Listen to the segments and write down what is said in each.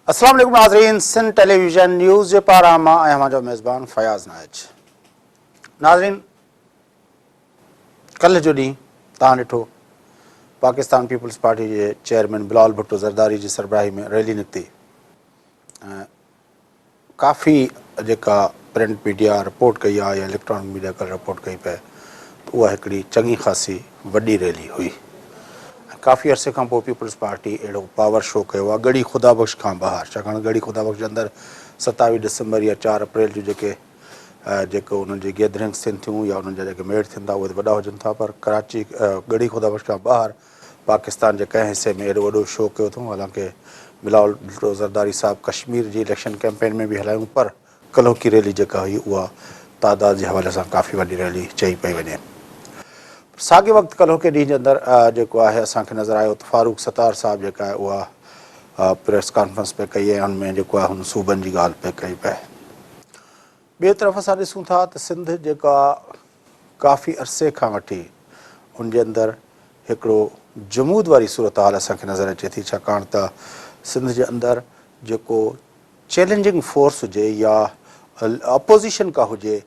اسلام عليڪم ناظرين سنڌ ٽيليويزن نيوز جي پاران مان آهيان اوهان جو ميزبان فياض نائچ ناظرين ڪلهه جو ڏينهن توهان ڏٺو پاڪستان پيپلز پارٽي جي چيئرمين بلال ڀٽو زرداري جي سربراهي ۾ ريلي نڪتي ۽ ڪافي جيڪا پرنٽ ميڊيا رپورٽ ڪئي آهي يا اليڪٽرانڪ ميڊيا ڪل رپورٽ ڪئي پئي ته اها هڪڙي چڱي خاصي وڏي ريلي هئي ۽ ڪافي عرصي کان پوء پيپلز پارٽي اهڙو پاور شو ڪيو آهي ڳڙهي خدا بخش کان ٻاهر ڇاڪاڻ ڳڙهي خدا بخش جي اندر ستاويهه ڊسمبر يا چار اپريل جو جيڪي جيڪو انهن جي گيدرنگس ٿين ٿيون يا انهن جا جيڪي ميڙ ٿين ٿا اهي ته وڏا هجن ٿا پر ڪراچي ڳڙهي خدابخش کان ٻاهر پاڪستان جي ڪنهن حصي ۾ ايڏو وڏو شو ڪيو اٿئون حالانڪه بلاول ڀٽو زرداري صاحب ڪشمير جي اليڪشن ڪيمپين ۾ به هلايون پر ڪلهوڪي ريلي جيڪا هئي اها تعداد جي حوالي سان ڪافي وڏي ريلي چئي پئي وڃي پر ساڳي وقت ڪلهوڪي ڏينهن جي اندر جيڪو آهي اسان کي نظر آيو ته فاروق ستار صاحب جيڪا آهي اها پريس ڪانفرنس پئي ڪئي ۽ ان ۾ جيڪو آهي هن صوبن جي ڳالهه پئي ڪئي پئي ٻئي طرف اسان ڏسون ٿا ته سنڌ جيڪا ڪافي عرصي کان وٺي ان جي اندر هڪڙو جمود واري صورتحال اسان کي نظر اچي ٿي ڇاڪاڻ ته سنڌ جي اندر جيڪو چيلنجنگ فورس هجي يا اپوزيشن ڪا هجي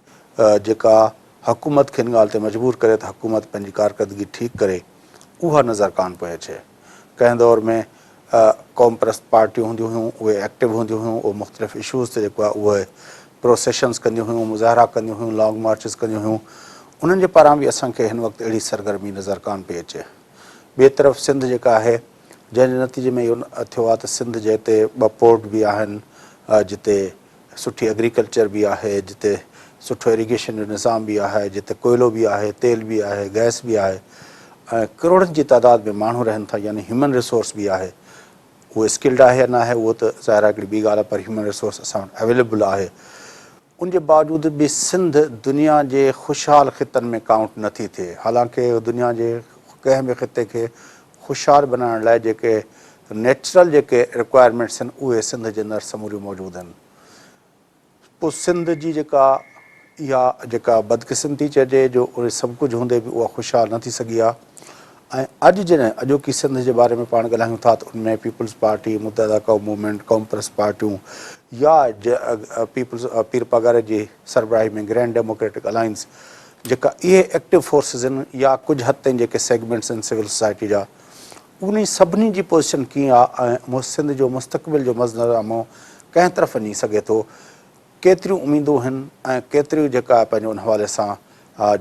جيڪا حڪومت کي ان ڳالهه تي مجبور ڪري ته حڪومت پنهنجي ڪارڪردگي ٺيڪ ڪري اها نظر ڪانه پئي اچي. ڪنهن دور ۾ قوم پرست پارٽيون هونديون هيون اهي ايڪٽو هونديون هيون اهي مختلف اشوز تي جيڪو آهي اهي پروسيشنز ڪنديون هيون مظاهرا ڪنديون هيون لانگ مارچز ڪنديون هيون انهن جي پاران به اسان کي هن وقت اهڙي سرگرمي نظر ڪانه پئي اچي ٻئي طرف سنڌ جيڪا آهي جنهن جي نتيجي ۾ اهو ٿيو آهي ته سنڌ جي هتي ٻه پورٽ به آهن جتي سٺي ايگريڪلچر به آهي، جتي سٺو ايريگيشن جو نظام به آهي، جتي ڪوئلو به آهي، تيل به آهي، گئس به آهي ۽ ڪروڙن جي تعداد ۾ ماڻهو رهن ٿا يعني هيومن ريسورس به آهي. اهو اسڪلڊ آهي يا ناهي اهو ته ظاهر آهي هڪڙي ٻي ڳالهه آهي پر هيومن ريسورس اسان وٽ اويليبل آهي. ان جي باوجود به سنڌ دنيا جي خوشحال خطن ۾ ڪائونٽ نٿي ٿئي حالانڪه اهو دنيا جي ڪنهن به خطي کي هوشيار بنائڻ لاء جيڪي نيچرل جيڪي رڪوائرمينٽس آهن اهي سنڌ جي اندر سموريون موجود آهن پو سنڌ جي جيڪا اها جيڪا بدقسمتي چئجي جو اهي سڀ ڪجهه هوندي به اها خوشحال نه ٿي سگهي آهي ۽ اڄ جڏهن اڄوڪي سنڌ جي باري ۾ پاڻ ڳالهايون ٿا ته ان ۾ peoples party Muttahida Qaumi movement قومپرست پارٽيون يا پيپلز پير پگهر جي سربراهي ۾ گرينڊ ڊيموڪريٽڪ الائنس جيڪا اهي ايڪٽو فورسز هن يا ڪجهه حد تائين جيڪي سيگمينٽس هن سول سوسائٽي جا انهي سڀني جي پوزيشن ڪيئن آ ۽ سنڌ جو مستقبل جو مظنرنامو ڪنهن طرف وڃي سگهي ٿو ڪيتريون اميدون هن ۽ ڪيتريون جيڪا پنهنجو ان حوالي سان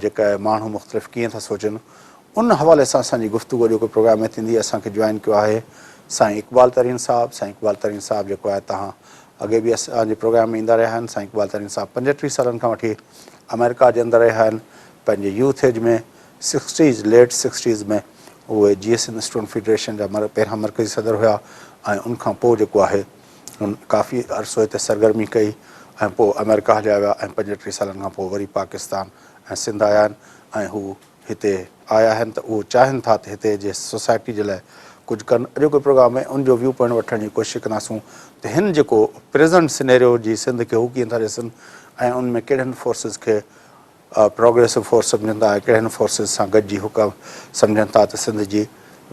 جيڪا ماڻهو مختلف ڪيئن ٿا سوچن ان حوالي سان اسان جي گفتگو اڄوڪي پروگرام ۾ ٿيندي اسان کي جوائن ڪيو آهي سائين اقبال ترين صاحب سائين اقبال ترين صاحب جيڪو آهي تهان اڳي به اسان جي پروگرام ۾ ايندا رهيا آهن سائين اقبال ترين صاحب پنجٽيهه سالن کان وٺي آمريڪا جي اندر رهيا آهن پنهنجي youth age ۾ sixties late sixties ۾ اهي J S N student federation جا پهريان مرڪزي صدر هيا ۽ ان کان پوء جيڪو آهي هن ڪافي عرصو هتي سرگرمي ڪئي ۽ پوء آمريڪا هليا ويا ۽ پنج ٽي سالن کان پوء وري پاڪستان ۽ سنڌ آيا آهن ۽ هو هتي آيا آهن ته اهو چاهين ٿا ته هتي جي سوسائٽي جي لاء ڪجهه ڪن. اڄوڪي پروگرام ۾ ان جو ويو پوائنٽ وٺڻ جي ڪوشش ڪنداسون ته هن جيڪو پريزنٽ سينيريو جي سنڌ کي هو ڪيئن ٿا ڏسن ۽ ان ۾ ڪهڙن فورسز کي پروگريسو فورس سمجهن ٿا ۽ ڪهڙن فورسز سان گڏجي هو سمجهن ٿا ته سنڌ جي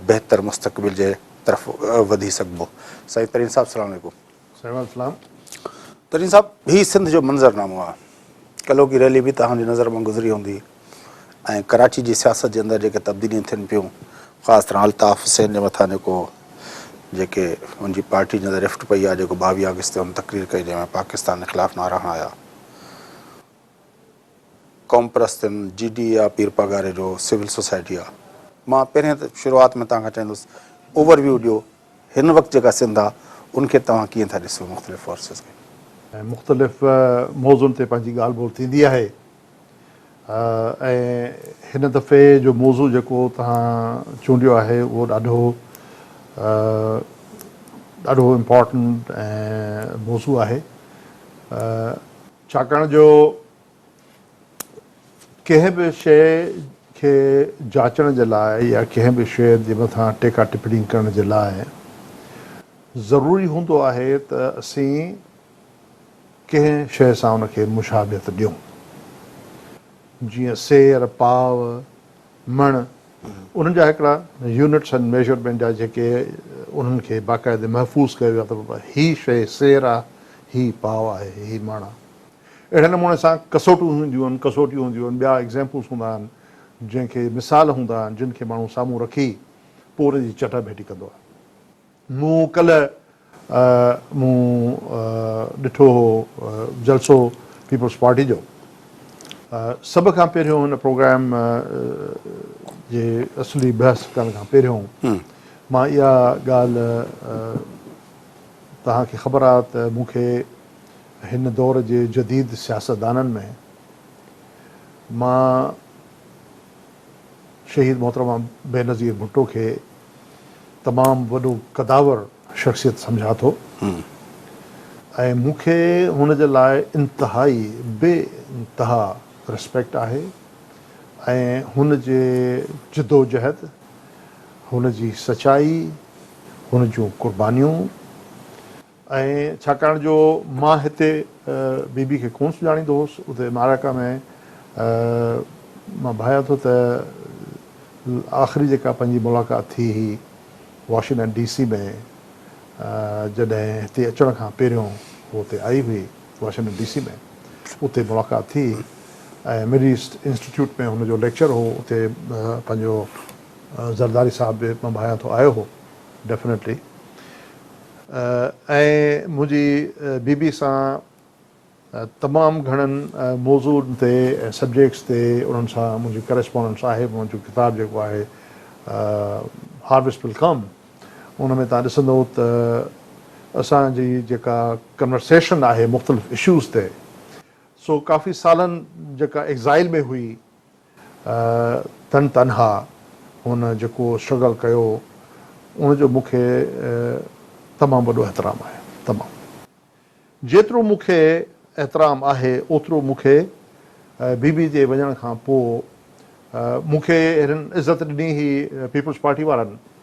بهتر مستقبل جي طرف وڌي سگهبو. سائين ترين صاحب سلام عليڪم. سائين وعليڪم السلام ترين صاحب هي سنڌ جو منظر نامو آ ڪلهو ڪي ريلي به توهان جي نظر مان گذري هوندي ۽ ڪراچي جي سياست جي اندر جيڪي تبديليون ٿين پيون خاص طرح الطاف حسين جي مٿان جيڪو جيڪي ان جي پارٽي جي اندر رفٽ پئي آ جيڪو ٻاويهه آگسٽ تي ان تقرير ڪئي جنهن ۾ پاڪستان جي خلاف نعرا هڻايا قومپرستن جي ڊي آ پير پاڳاري جو سول سوسائٽي آ مان پهرين ته شروعات ۾ توهان کان چاهيندس اوور ويو ڏيو هن وقت جيڪا سنڌ آ ان کي توهان ڪيئن ٿا ڏسيو مختلف فورسز کي. ۽ مختلف موضوعن تي پنهنجي ڳالهه ٻولهه ٿيندي آهي ۽ هن دفعي جو موضوع جيڪو توهان چونڊيو آهي اهو ڏاڍو ڏاڍو امپارٽنٽ ۽ موضوع آهي. ڇاڪاڻ جو ڪنهن به شيء کي جاچڻ جي لاء يا ڪنهن به شيء جي مٿان ٽيڪا ٽپڻي ڪرڻ جي لاء ضروري هوندو آهي ته اسين ڪنهن شيء سان ان کي مشابهت ڏيون. جيئن سير، پاء، مڻ، انهن جا هڪڙا يونٽس آهن ميزرمينٽ جا جيڪي انهن کي باقاعدي محفوظ ڪيو ويو آهي ته هي شيء سير آهي، هي پاء آهي، هي مڻ آهي. اهڙي نموني سان ڪسوٽون هونديون آهن، ڪسوٽيون هونديون آهن، ٻيا ايگزيمپلز هوندا آهن، جنهن کي مثال هوندا آهن، جن کي ماڻهو سامهون رکي پوء ان جي چٽا ڀيٽي ڪندو آهي. مون ڪلهه مون ڏٺو هو جلسو پيپلز پارٽي جو سڀ کان پهريون هن پروگرام جي اصلي بحث ڪرڻ کان پهريون مان اها ڳالهه توهان کي خبر آ ته مون کي هن دور جي جديد سياستدانن ۾ مان شهيد محترمه بينظير ڀٽو کي تمام وڏو قداور شخصيت سمجهان ٿو ۽ مون کي هن جي لاء انتهائي بي انتها رسپيڪٽ آهي ۽ هن جي جدوجهد، هن جي سچائي، هن جون قربانيون ۽ ڇاڪاڻ جو مان هتي بي بي کي ڪونه سڃاڻيندو هوس، اتي معرڪه ۾ مان ڀانيان ٿو ته آخري جيڪا پنهنجي ملاقات ٿي هئي واشنگٽن ڊي سي ۾ جڏهن هتي اچڻ کان پهريون هو اتي آئي هئي واشنگٽن ڊي سي ۾ اتي ملاقات ٿي هئي ۽ مڊ ايسٽ انسٽيٽيوٽ ۾ هن جو ليڪچر هو اتي پنهنجو زرداري صاحب به مان ڀانيان ٿو آيو هو ڊيفنيٽلي ۽ منهنجي بيبي سان تمام گهڻن موضوعن تي ۽ سبجيڪٽس تي انهن سان منهنجي ڪريسپونڊنس آهي منهنجو ڪتاب جيڪو آهي Harvest Will Come ان ۾ توهان ڏسندو ته اسان جي جيڪا ڪنورسيشن آهي مختلف اشوز تي سو ڪافي سالن جيڪا ايگزائل ۾ هئي تن تنها هن جيڪو اسٽرگل ڪيو ان جو مون کي تمام وڏو احترام آهي تمام جيترو مون کي احترام آهي اوترو مون کي بي بي جي وڃڻ کان پو مون کي اهڙين عزت ڏني هئي پيپلز پارٽي وارن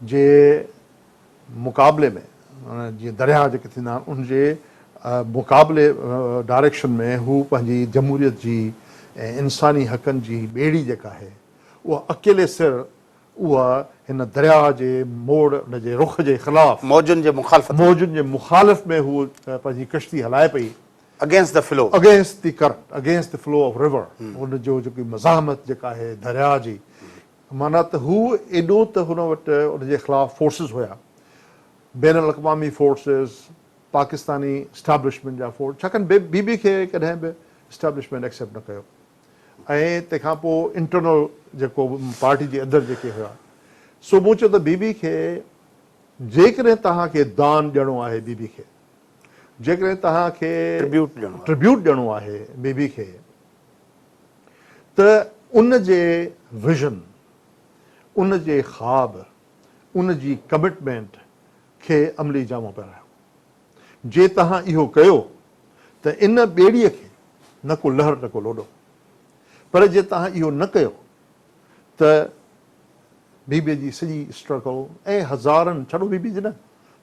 جي مقابلي ۾ جيئن درياهه جيڪي ٿيندا آهن ان جي مقابلي ڊائريڪشن ۾ هو پنهنجي جمهوريت جي ۽ انساني حقن جي ٻيڙي جيڪا آهي اها اڪيلي سر اها هن درياهه جي موڙ ان جي رخ جي خلاف موجن جي مخالفت ۾ موجن جي مخالف ۾ هو پنهنجي ڪشتي هلائي پئي Against the Flow. Against the Current Against the Flow of River ان جو جيڪي مزاحمت جيڪا آهي درياهه جي معنيٰ ته هو ايڏو ته هن وٽ ان جي خلاف فورسز هيا، بين الاقوامي فورسز، پاڪستاني اسٽيبلشمينٽ جا فورس، ڇاڪاڻ بي بي کي ڪڏهن به اسٽيبلشمينٽ ايڪسيپٽ نه ڪيو ۽ تنهن کان پوء انٽرنل جيڪو به پارٽي جي اندر جيڪي هيا سو مون چيو ته بي بي کي جيڪڏهن توهان کي دان ڏيڻو آهي بي بي کي جيڪڏهن توهان کي ٽربيوٽ ڏيڻو آهي بي بي کي ته ان جي ويزن، ان جي خواب، ان جي ڪمٽمينٽ کي عملي جامو پهرايو. جي توهان اهو ڪيو ته ان ٻيڙيء کي نه ڪو لهر نه ڪو لوڏو. پر جي توهان اهو نه ڪيو ته بيبي جي سڄي اسٽرگل ۽ هزارن، ڇڏو بيبي جي نه،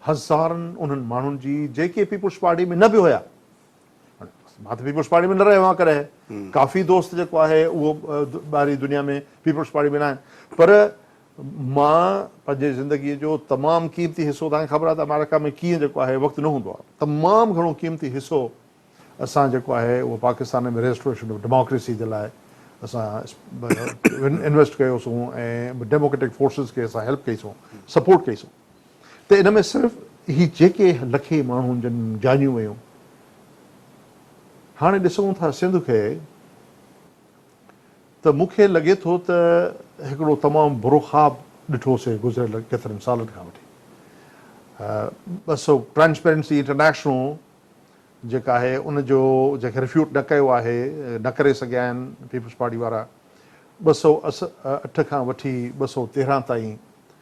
هزارن انهن ماڻهن جي جيڪي پيپلز پارٽي ۾ نه به هيا، مان ته پيپلز پارٽي ۾ نه رهيو آهيان ڪڏهن ڪافي دوست جيڪو آهي اهو ٻاهرين دنيا ۾ پيپلز پارٽي ۾ نه آهن پر مان پنهنجي زندگي جو تمام قيمتي حصو تان خبر آهي ته آمريڪا ۾ ڪيئن جيڪو آهي وقت نه هوندو آهي تمام گهڻو قيمتي حصو اسان جيڪو آهي اهو پاڪستان ۾ ريسٽوريشن آف ڊيموڪريسي جي لاء اسان انويسٽ ڪيوسون ۽ ڊيموڪريٽڪ فورسز کي اسان هيلپ ڪئي سون سپورٽ ڪئي سون ته ان ۾ صرف هي جيڪي لکين ماڻهن جن جانيون ويون هاڻي ڏسون ٿا سنڌ کي ته مون کي لڳي ٿو ته هڪڙو تمام برو خواب ڏٺو سي گذريل ڪيترن سالن کان وٺي ٻه سو ٽرانسپيرنسي انٽرنيشنل جيڪا آهي ان جو جنهن کي رفيوٽ نه ڪيو آهي نه ڪري سگهيا آهن پيپلز پارٽي وارا ٻه سو اٺ کان وٺي ٻه سو تيرهن تائين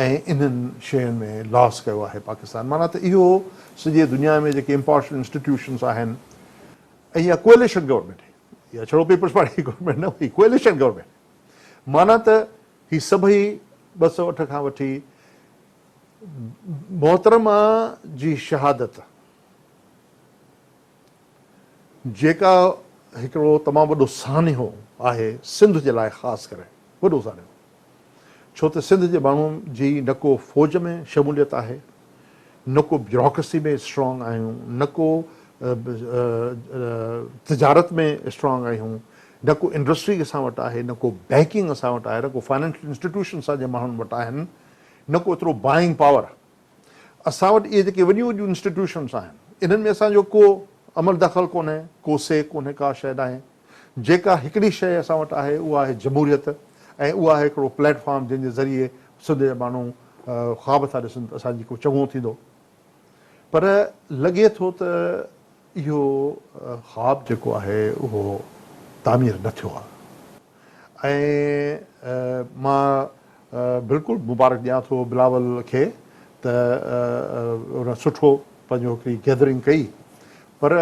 ۽ انهن شين ۾ لاس ڪيو آهي پاڪستان معنيٰ ته اهو سڄي دنيا ۾ جيڪي امپارشل انسٽيٽيوشنس آهن ۽ اها ڪوئليشن گورنمينٽ هئي اها ڇڙو پيپلز پارٽي جي گورنمينٽ نه هئي ڪوئليشن گورنمينٽ هئي معنيٰ ته هي سڀئي ٻه سؤ اٺ کان وٺي محترمه جي شهادت جيڪا هڪڙو تمام وڏو سانحو آهي سنڌ جي لاء خاص ڪري وڏو سانحو ڇو ته سنڌ جي ماڻهن جي نه ڪو فوج ۾ شموليت آهي نه ڪو بيوروڪرسي ۾ اسٽرانگ آهيون نه ڪو تجارت ۾ اسٽرانگ آهيون نه ڪو انڊسٽري اسان وٽ آهي نه ڪو بينڪنگ اسان وٽ آهي نه ڪو فائنينشل انسٽيٽيوشن اسان جي ماڻهن وٽ آهن نه ڪو ايترو بائنگ پاور اسان وٽ اهي جيڪي وڏيون وڏيون انسٽيٽيوشنس آهن، انهن ۾ اسان جو ڪو عمل دخل ڪونهي، ڪو سي ڪونهي، ڪا شيء ناهي. جيڪا هڪڙي شيء اسان وٽ آهي، اها آهي جمهوريت ۽ اها آهي هڪڙو پليٽ فارم جنهن جي ذريعي سنڌ جا ماڻهو خواب ٿا ڏسن ته اسان جي ڪو چڱو ٿيندو. پر لڳي ٿو ته اهو خواب جيڪو آهي اهو تعمير نه ٿيو آهي. ۽ مان بلڪل مبارڪ ڏيان ٿو بلاول کي ته ان سٺو پنهنجو هڪڙي گيدرنگ ڪئي پر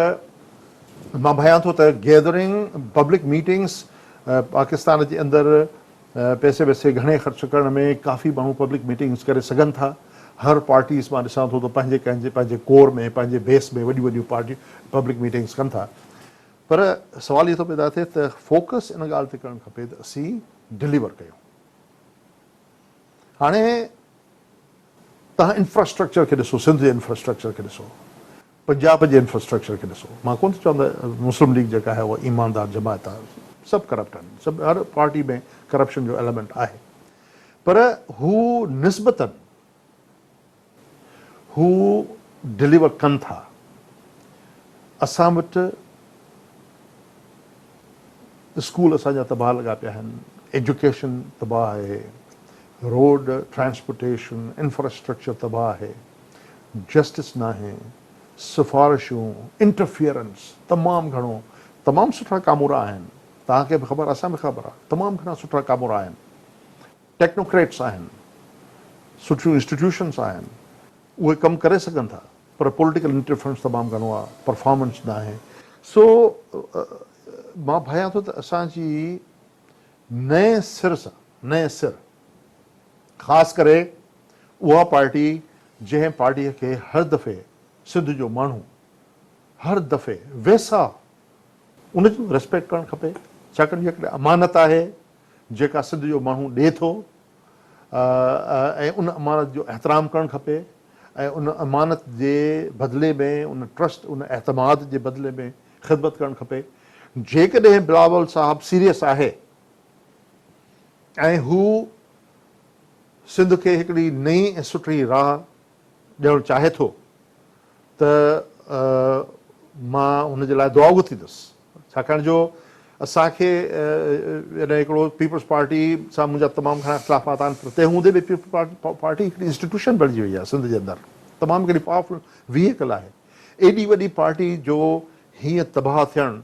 مان ڀانيان ٿو ته گيدرنگ پبلڪ ميٽنگس پاڪستان جي اندر پئسي وئسي گهڻي خرچ ڪرڻ ۾ ڪافي ماڻهو پبلڪ ميٽنگس ڪري سگهن ٿا هر پارٽيز مان ڏسان ٿو ته پنهنجي پنهنجي ڪور ۾ پنهنجي بيس ۾ وڏيون وڏيون پارٽيون پبلڪ ميٽنگس ڪن ٿا پر سوال اهو ٿو پيدا ٿئي ته فوڪس ان ڳالهه تي ڪرڻ کپي ته اسين ڊليور ڪيون. هاڻي تهان انفراسٽرڪچر کي ڏسو، سنڌ جي انفراسٽرڪچر کي ڏسو، پنجاب جي انفراسٽرڪچر کي ڏسو. مان ڪونه ٿو چوان ته مسلم ليگ جيڪا آهي اها ايماندار جماعت آهي. سڀ ڪرپٽ آهن. سڀ هر پارٽي ۾ ڪرپشن جو ايلمينٽ آهي. پر هو نسبتن هو ڊليور ڪن ٿا اسان وٽ اسڪول اسان جا تباهه لڳا پيا آهن ايجوڪيشن تباهه آهي روڊ ٽرانسپورٽيشن انفراسٽرڪچر تباهه آهي جسٽس ناهي سفارشون انٽرفيئرنس تمام گهڻو تمام سٺا ڪامورا آهن توهان کي به خبر اسان به خبر آهي تمام گهڻا سٺا ڪامورا آهن ٽيڪنوڪريٽس آهن، سٺيون انسٽيٽيوشنس آهن، اهي ڪم ڪري سگهن ٿا پر پوليٽيڪل انٽرفرنس تمام گهڻو آهي، پرفارمنس ناهي. سو مان ڀانيان ٿو ته اسان جي نئين سر سان، نئين سر خاص ڪري اها پارٽي جنهن پارٽيء کي هر دفعي سنڌ جو ماڻهو هر دفعي ويساهه ان جي ريسپيڪٽ ڪرڻ کپي ڇاڪاڻ جيڪڏهن امانت آهي جيڪا سنڌ جو ماڻهو ڏئي ٿو ۽ ان امانت جو احترام ڪرڻ کپي ۽ ان امانت جي بدلي ۾ ان ٽرسٽ ان اعتماد جي بدلي ۾ خدمت ڪرڻ کپي جيڪڏهن بلاول صاحب سيريس آهي ۽ هو سنڌ کي هڪڙي نئين ۽ سٺي راهه ڏيڻ چاهي ٿو ته مان هن جي لاء دعا گهتيندس. ڇاڪاڻ جو اسان کي يعني هڪڙو پيپلز پارٽي سان منهنجا تمام گهڻا اختلافات آهن پر تنهن هوندي به پيپلز پارٽي هڪڙي انسٽيٽيوشن بڻجي وئي آهي سنڌ جي اندر تمام هڪڙي پاورفل ويهيڪل آهي ايڏي وڏي پارٽي جو هيئن تباهه ٿيڻ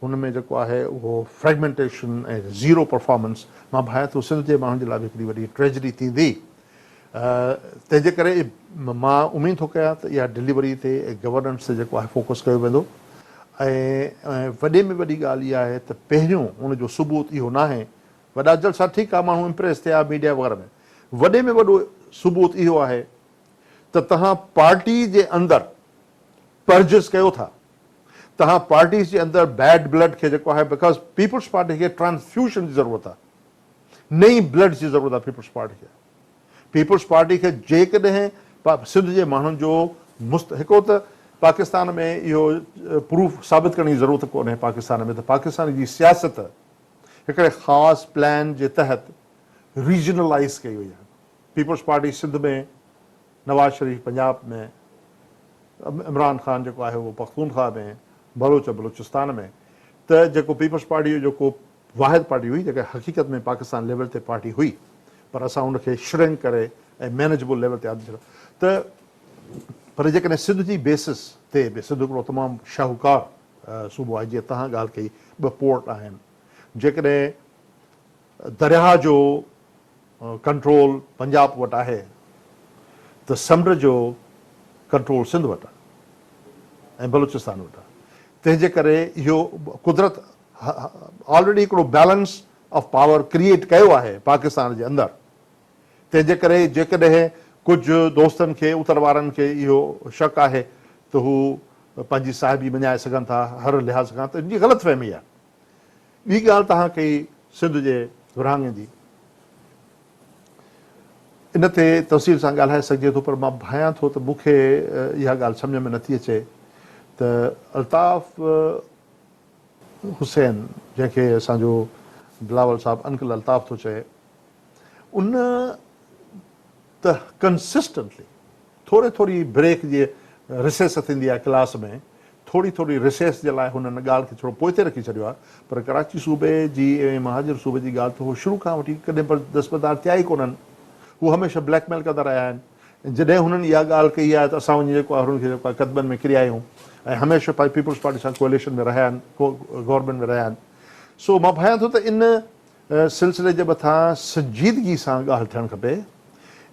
هن ۾ جيڪو آهي اهو فريگمينٽيشن ۽ زيرو پرفارمنس مان ڀانئان ٿو سنڌ جي ماڻهن جي لاء به هڪڙي وڏي ٽريجڊي ٿيندي تنهن جي ڪري مان اميد ٿو ڪيان ته اها ڊليوري تي گورننس تي جيڪو آهي فوڪس ڪيو ويندو ۽ وڏي ۾ وڏي ڳالهه اها آهي ته پهريون ان جو ثبوت اهو ناهي وڏا جلسا ٺيڪ آهي ماڻهو امپريس ٿيا ميڊيا وغيره ۾ وڏي ۾ وڏو ثبوت اهو آهي ته تهان پارٽي جي اندر پرجز ڪيو ٿا تهان پارٽيز جي اندر بيڊ بلڊ کي جيڪو آهي بڪاز پيپلز پارٽي کي ٽرانسفيوشن جي ضرورت آهي نئين بلڊ جي ضرورت آهي پيپلز پارٽي کي پيپلز پارٽي کي جيڪڏهن سنڌ جي ماڻهن جو مست هڪڙو ته پاڪستان ۾ اهو پروف ثابت ڪرڻ جي ضرورت ڪونهي پاڪستان ۾ ته پاڪستان جي سياست هڪڙي خاص پلان جي تحت ريجنلائيز ڪئي وئي آهي پيپلز پارٽي سنڌ ۾ نواز شريف پنجاب ۾ عمران خان جيڪو آهي اهو پختونخواه ۾ بلوچ بلوچستان ۾ ته جيڪو پيپلز پارٽي جو جيڪو واحد پارٽي هئي جيڪا حقيقت ۾ پاڪستان ليول تي پارٽي هئي پر اسان ان کي شرنڪ ڪري ۽ مينيجبل ليول تي آندي ڇڏيو ته پر جيڪڏهن سنڌ جي بيسس تي به سنڌ هڪڙو تمام شاهوڪار صوبو آهي جيئن توهان ڳالهه ڪئي ٻه پورٽ آهن جيڪڏهن درياهه جو ڪنٽرول پنجاب وٽ آهي ته سمنڊ جو ڪنٽرول سنڌ وٽ آهي ۽ بلوچستان وٽ آهي تنهن جي ڪري اهو قدرت آلريڊي هڪڙو بيلنس آف پاور ڪريئيٽ ڪيو آهي پاڪستان جي اندر تنهن جي ڪري جيڪڏهن ڪجهه دوستن کي اتر وارن کي اهو شڪ آهي ته هو پنهنجي صاحبي مڃائي سگهن ٿا هر لحاظ کان ته ان جي غلط فهمي آهي ٻي ڳالهه توهان ڪئي سنڌ جي ورهاڱي جي ان تي تفصيل سان ڳالهائي سگهجي ٿو پر مان ڀانيان ٿو ته مون کي اها ڳالهه سمجهه ۾ نٿي اچي ته الطاف حسين، جنهن کي اسان جو بلاول صاحب انڪل الطاف ٿو چئي، ان ته ڪنسسٽنٽلي ٿوري ٿوري بريڪ جي رسيس ٿيندي آهي ڪلاس ۾، ٿوري ٿوري رسيس جي لاء هن ان ڳالهه کي ٿورو پوئتي رکي ڇڏيو آهي، پر ڪراچي صوبي جي ۽ مهاجر صوبي جي ڳالهه ته هو شروع کان وٺي ڪڏهن به دستبردار ٿيا ئي ڪونهن. هو هميشه بليڪ ميل ڪندا رهيا آهن. ۽ جڏهن هنن اها ڳالهه ڪئي آهي ته اسان وڃي جيڪو آهي هنن کي جيڪو آهي قدمن ۾ ڪري آيا آهيون ۽ هميشه پنهنجي پيپلز پارٽي سان ڪوئليشن ۾ رهيا آهن، گورنمينٽ ۾ رهيا آهن. سو مان ڀانيان ٿو ته ان سلسلي جي مٿان سنجيدگي سان ڳالهه ٿيڻ کپي.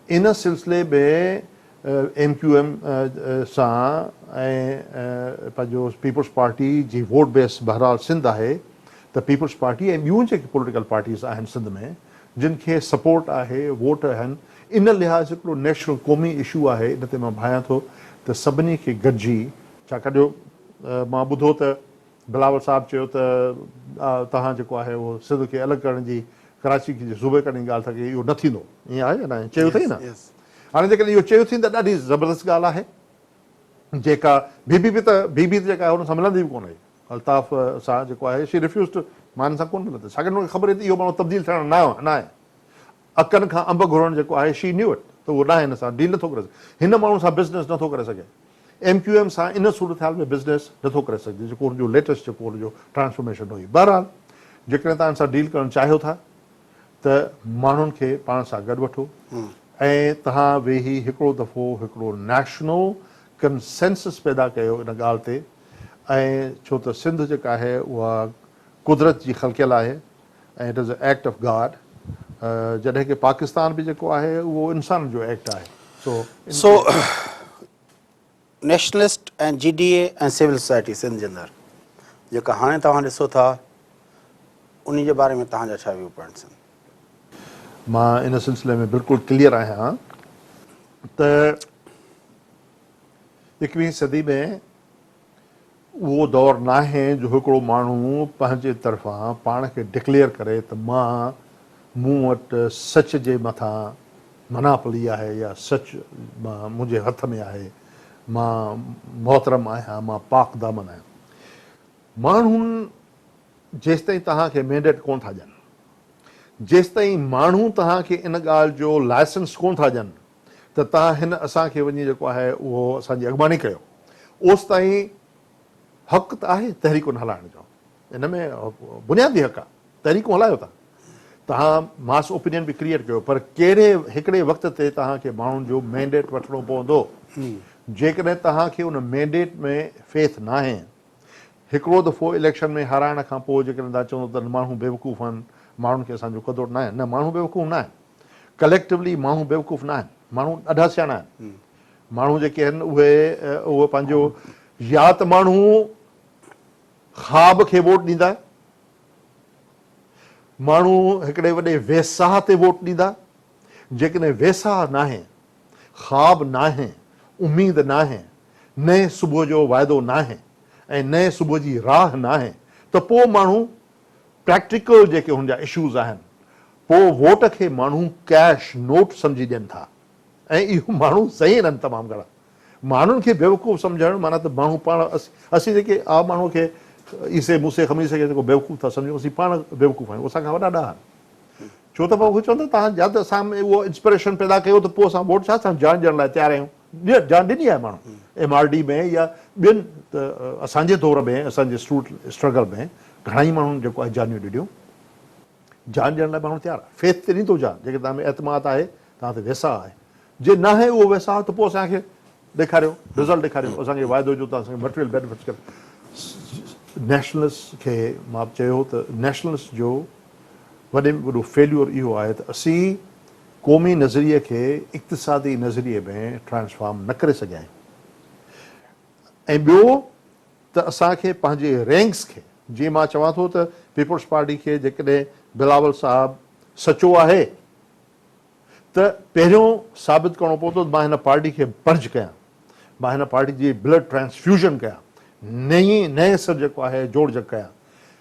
ان سلسلي ۾ ايم ڪيو ايم سان ۽ پنهنجو پيپلز پارٽي جي ووٽ بيس بهرحال سنڌ آهي ته پيپلز پارٽي ۽ ٻيون جيڪي پوليٽيڪل پارٽيز آهن سنڌ ۾ جن کي سپورٽ آهي، ووٽ آهن، ان لحاظ هڪڙو نيشنل قومي اشو آهي ان تي مان ڀانيان ٿو ته سڀني کي گڏجي. ڇاڪاڻ جو مان ٻڌو ته بلاول صاحب چيو ته توهان جيڪو آهي اهو سنڌ کي الڳ ڪرڻ جي ڪراچي کي جي صوبي ڪرڻ جي ڳالهه ٿا ڪيو اهو نه ٿيندو ائين آهي يا نه ائين چيو اٿئي نه هاڻي جيڪڏهن اهو چيو اٿئي ته ڏاڍي زبردست ڳالهه آهي جيڪا بي بي پي ته بي بي پي جيڪا آهي ان سان ملندي به ڪونه الطاف سان جيڪو آهي شي ريفيوز ٽو مان ان سان ڪونه ملندس ڇاڪاڻ جو ان کي خبر هئي ته اهو ماڻهو تبديل ٿيڻ نه آهي اکن کان انب گهرڻ جيڪو آهي شي نيو اٽ ته اهو ڏانهن هن سان ڊيل نٿو ڪري سگهي هن ماڻهو سان بزنس نٿو ڪري سگهي ايم ڪيو ايم سان ان صورتحال ۾ بزنس نٿو ڪري سگهجي جيڪو ان جو ليٽسٽ جيڪو ان جو ٽرانسفارميشن هئي بهرحال جيڪڏهن توهان ان سان ڊيل ڪرڻ چاهيو ٿا ته ماڻهن کي پاڻ سان گڏ وٺو ۽ توهان ويهي هڪڙو دفعو هڪڙو نيشنل ڪنسينسس پيدا ڪيو ان ڳالهه تي ۽ ڇو ته سنڌ جيڪا آهي اها قدرت جي خلقيل آهي ۽ it is a act of God جڏهن ڪي پاڪستان به جيڪو آهي اهو انسانن جو ايڪٽ آهي سو nationalist ۽ G D A ۽ civil society Sindh جي اندر جيڪا هاڻي توهان ڏسو ٿا انهي جي باري ۾ توهان جا ڇا ويو پوائنٽس آهن مان ان سلسلي ۾ بلڪل ڪليئر آهيان ته اڪويهين صدي ۾ اهو دور ناهي جو هڪڙو ماڻهو پنهنجي طرفان پاڻ کي ڊڪليئر ڪري ته مان مون وٽ سچ جي مٿان مناپلي آهي يا سچ منهنجي هٿ ۾ آهي مان محترم آهيان مان پاڪ دامن آهيان ماڻهن جيستائين توهان کي مينڊيٽ ڪونه ٿا ڏين جيستائين ماڻهو توهان کي ان ڳالهه جو لائسنس ڪونه ٿا ڏين ته تان هن اسان کي وڃي جيڪو آهي اهو اسان جي اڳڀاني ڪيو اوستائين حق ته آهي تحريڪون هلائڻ جو ان ۾ بنيادي حق آهي تحريڪون هلايو ٿا تهان ماس اوپينين به ڪريئيٽ ڪيو پر ڪهڙي هڪڙي وقت تي تهان کي ماڻهن جو مينڊيٽ وٺڻو پوندو جيڪڏهن تهان کي ان مينڊيٽ ۾ فيٿ ناهي هڪڙو دفعو اليڪشن ۾ هارائڻ کان پوء جيڪڏهن تهان چوندو ته ماڻهو بيوقوف آهن ماڻهن کي اسان جو قدر ناهي نه ماڻهو بيوقوف ناهن. ڪليڪٽوولي ماڻهو بيوقوف نه آهن. ماڻهو ڏاڍا سياڻا آهن. ماڻهو جيڪي آهن اهي اهو پنهنجو يا ته ماڻهو خواب کي ووٽ ڏيندا، ماڻهو هڪڙي وڏي ويساهه تي ووٽ ڏيندا، جيڪڏهن ويساهه ناهي، خواب ناهي، اميد ناهي، نئين صبح جو وعدو ناهي ۽ نئين صبح جي راهه ناهي ته پوء ماڻهو پريڪٽيڪل جيڪي هن جا اشوز آهن پوء ووٽ کي ماڻهو ڪيش نوٽ سمجهي ڏين ٿا ۽ اهو ماڻهو ذهين آهن تمام گهڻا ماڻهن کي بيوقوف سمجهڻ معنيٰ ته ماڻهو پاڻ اسين جيڪي عام ماڻهو کي عيسي موسي خميس کي جيڪو بيوقوف ٿا سمجهون اسين پاڻ بيوقوف آهيون اسان کان وڏا ڏاها آهن ڇو ته پوء اهي چون ٿا تهان يا ته اسان ۾ اهو انسپريشن پيدا ڪيو ته پوء اسان ووٽ ڇا سان جان ڏيڻ لاء تيار آهيون جان ڏني آهي ماڻهن ايم آر ڊي ۾ يا ٻين اسان جي دور ۾ اسان جي اسٽرگل ۾ گهڻا ئي ماڻهن جيڪو آهي جانيون ڏنيون جان ڏيڻ لاء ماڻهو تيار آهي فيٿ ته ڏيندو جان جيڪڏهن توهان ۾ اعتماد آهي توهان تي ويساهه آهي جي ناهي اهو ويساهه ته پوء اسان کي ڏيکاريو رزلٽ ڏيکاريو اسان کي واعدو جو توهان سان مٽيريل بينيفٽس ڪري نيشنلس کي مان چيو ته نيشنلس جو وڏي ۾ وڏو فيليور اهو آهي ته اسين قومي نظريي کي اقتصادي نظريي ۾ ٽرانسفارم نه ڪري سگهيا آهيون ۽ ٻيو ته اسان کي پنهنجي رينگز کي جيئن مان چوان ٿو ته پيپلز پارٽي کي جيڪڏهن بلاول صاحب سچو آهي ته پهريون ثابت ڪرڻو پوندو ته مان هن پارٽي کي پرج ڪيان مان هن پارٽي جي بلڊ ٽرانسفيوزن ڪيان نئين نئين سر جيڪو آهي جوڙجڪ ڪيان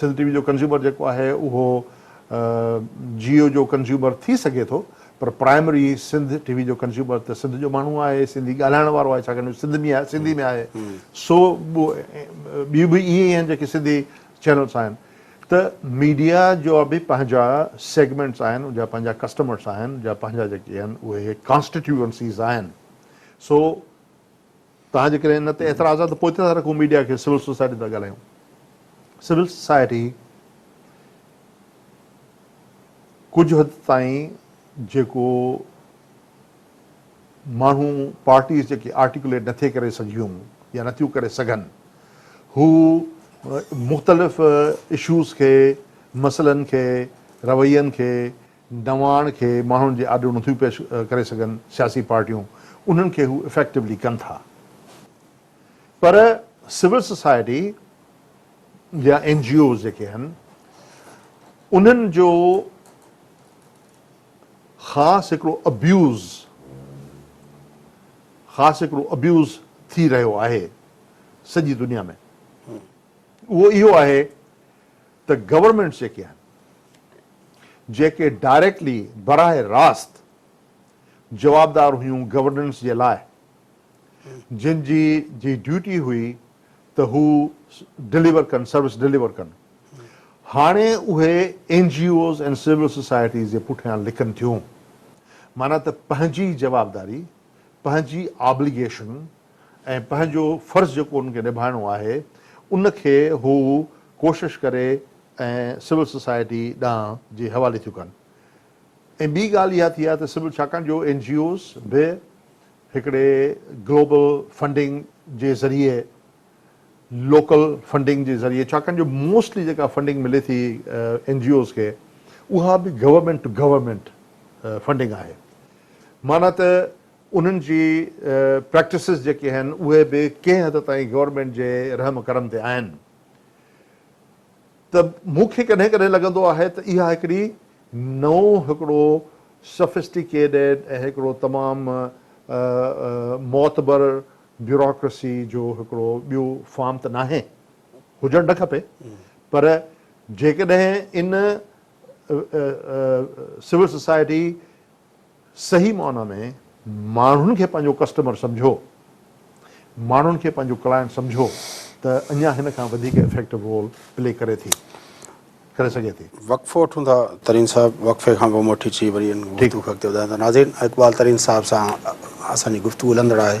سنڌ ٽي وي جو ڪنزيومر جيڪو آهي اهو جيو جو ڪنزيومر ٿي سگهي ٿو پر پرائمري سنڌ ٽي وي جو ڪنزيومر ته سنڌ جو ماڻهو آهي سنڌي ڳالهائڻ وارو آهي ڇاڪاڻ جو سنڌ ۾ آهي سنڌي ۾ آهي سو ٻيون به ائين ئي آهن جيڪي سنڌي چينلس آهن ته ميڊيا جو به پنهنجا سيگمينٽس آهن ان جا پنهنجا ڪسٽمرس آهن جا پنهنجا جيڪي آهن اهي ڪانسٽيٽيوئنسيز آهن سو توهان جي ڪري ان تي اعتراض آهي ته پوء ڇا رکون ميڊيا کي سول سوسائٽي تان ڳالهايون سول سوسائٽي ڪجهه حد تائين جيڪو ماڻهو پارٽيز جيڪي آرٽيڪوليٽ نٿي ڪري سگهيون يا نٿيون ڪري سگهن هو مختلف اشوز کي مسئلن کي روين کي نواڻ کي ماڻهن جي آڏو نٿيون پيش ڪري سگهن سياسي پارٽيون انهن کي هو افيڪٽوولي ڪن ٿا پر سول سوسائٽي يا اين جي اوز جيڪي آهن انهن جو خاص هڪڙو ابيوز خاص هڪڙو ابيوز ٿي رهيو آهي سڄي دنيا ۾ اهو اهو آهي ته گورنمينٽس جيڪي آهن جيڪي ڊائريڪٽلي براه راست جوابدار هيون گورننس جي لاء جن جي جي ڊيوٽي هئي ته هو ڊليور ڪن سروس ڊليور ڪن هاڻي اهي N G Os ۽ civil societies جي پٺيان لڪن ٿيون معنيٰ ته پنهنجي جوابداري پنهنجي آبليگيشن ۽ پنهنجو فرض جيڪو انهن کي نڀائڻو آهي ان کي هو ڪوشش ڪري ۽ سول سوسائٽي ڏانهن جي حوالي ٿيون ڪن ۽ ٻي ڳالهه اها ٿي آهي ته سول ڇاڪاڻ جو اين جي اوز به هڪڙي گلوبل فنڊنگ جي ذريعي لوڪل فنڊنگ جي ذريعي ڇاڪاڻ جو موسٽلي جيڪا فنڊنگ ملي ٿي اين جي اوز کي اها به گورنمينٽ ٽو گورنمينٽ فنڊنگ آهي معنيٰ ته انهن جي پريڪٽسز جيڪي آهن اهي به ڪنهن حد تائين گورنمينٽ جي رحم ڪرم تي آهن ته مون کي ڪڏهن ڪڏهن لڳندو آهي ته اها هڪڙي نئون هڪڙو سفسٽيڪيڊيڊ ۽ هڪڙو تمام معتبر بيوراڪرسي جو هڪڙو ٻيو فارم ته ناهي، هجڻ نه کپي پر جيڪڏهن ان سول سوسائٽي صحيح معنيٰ ۾ ماڻهن کي پنهنجو ڪسٽمر سمجهو، ماڻهن کي پنهنجو ڪلائنٽ سمجهو ته اڃا هن کان وڌيڪ افيڪٽو رول پلي ڪري ٿي ڪري سگهي ٿي. وقفو وٺون ٿا ترين صاحب وقفي کان پوء موٽي چي وري ان گفتگو کي اڳتي وڌايون ٿا ناظرين اقبال ترين صاحب سان اسان جي گفتگو هلندڙ آهي.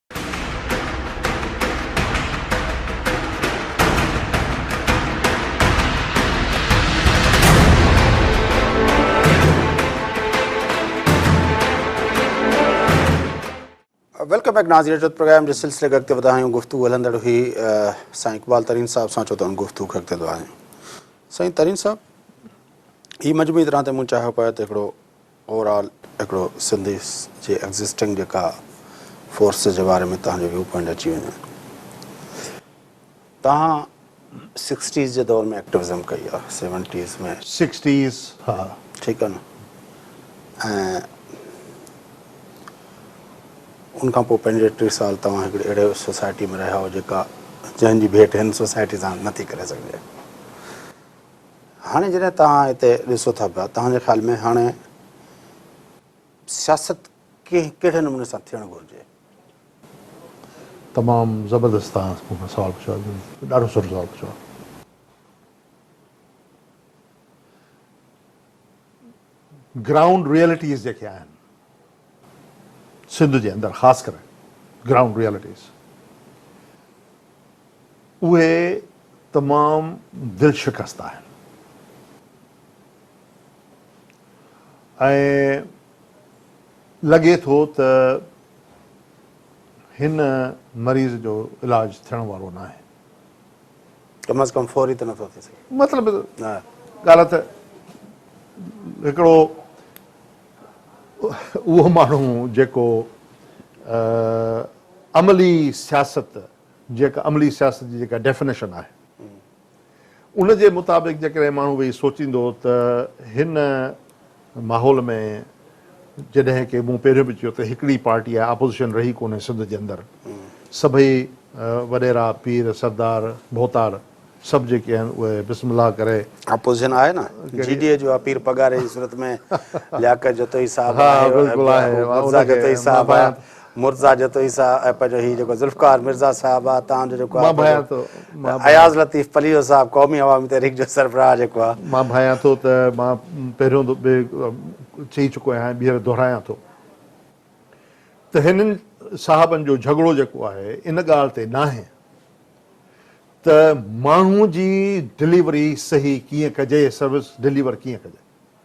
ويلڪم بيڪ ناظرين جو پروگرام جي سلسلي کي اڳتي وڌايون گفتگو هلندڙ هئي سائين اقبال ترين صاحب سان چو ته ان گفتگو کي اڳتي وڌايون سائين ترين صاحب هي مجموعي طرح تي مون چاهيو پيو ته هڪڙو اوور آل هڪڙو سنڌي جي ايگزسٽنگ جيڪا فورسز جي باري ۾ توهان جو ويو پوائنٽ اچي وڃي توهان سڪسٽيز جي دور ۾ ايڪٽوزم ڪئي آ سيونٽيز ۾ سڪسٽيز ها ٺيڪ آ نه ۽ ان کان پوء پنجويهه ٽيهه سال توهان هڪڙي اهڙي سوسائٽي ۾ رهيا هو جيڪا جنهن جي ڀيٽ هن سوسائٽي سان نٿي ڪري سگهجي هاڻي جڏهن توهان هتي ڏسو ٿا پيا توهان جي خيال ۾ هاڻي سياست ڪنهن ڪهڙي نموني سان ٿيڻ گهرجي؟ تمام زبردست توهان مون کان سوال پڇيو آهي ڏاڍو سٺو سوال پڇيو آهي. گرائونڊ ريئلٽيز جيڪي آهن سنڌ جي اندر خاص ڪري گرائونڊ ريئلٽيز اهي تمام دل شڪست آهن ۽ لڳي ٿو ته هن مريض جو علاج ٿيڻ وارو ناهي. ڪم از ڪم فوري ته نٿو ٿي سگهي. مطلب ڳالهه ته هڪڙو اهو ماڻهو جيڪو عملي سياست جيڪا عملي سياست جي جيڪا ڊيفنيشن آهي ان جي مطابق جيڪڏهن ماڻهو ويهي سوچيندو ته هن ماحول ۾ جڏهن ڪي مون پهريون به چيو ته هڪڙي پارٽي آهي آپوزيشن رهي ڪونهي سنڌ جي اندر سڀئي وڏيرا پير سردار ڀوتار سڀ جيڪي آهن اهي بسم الله ڪري آپوزيشن آهي نه جي ڊي اي جو آهي پير پگهاري جي صورت ۾ لياقت جتوئي صاحب آهي ها بلڪل آهي مرزا جتو عيسيٰ ۽ پنهنجو هي جيڪو ذوالفقار مرزا صاحب آ تان جو جيڪو آ اياز لطيف پليجو صاحب قومي عوامي تحريڪ جو سربراهه جيڪو آ. مان ڀانيان ٿو ته مان پهريون به چئي چڪو آهيان ۽ ٻيهر دهرايان ٿو ته هنن صاحبن جو جهڳڙو جيڪو آهي ان ڳالهه تي ناهي ته ماڻهو جي ڊليوري صحيح ڪيئن ڪجي سروس ڊليور ڪيئن ڪجي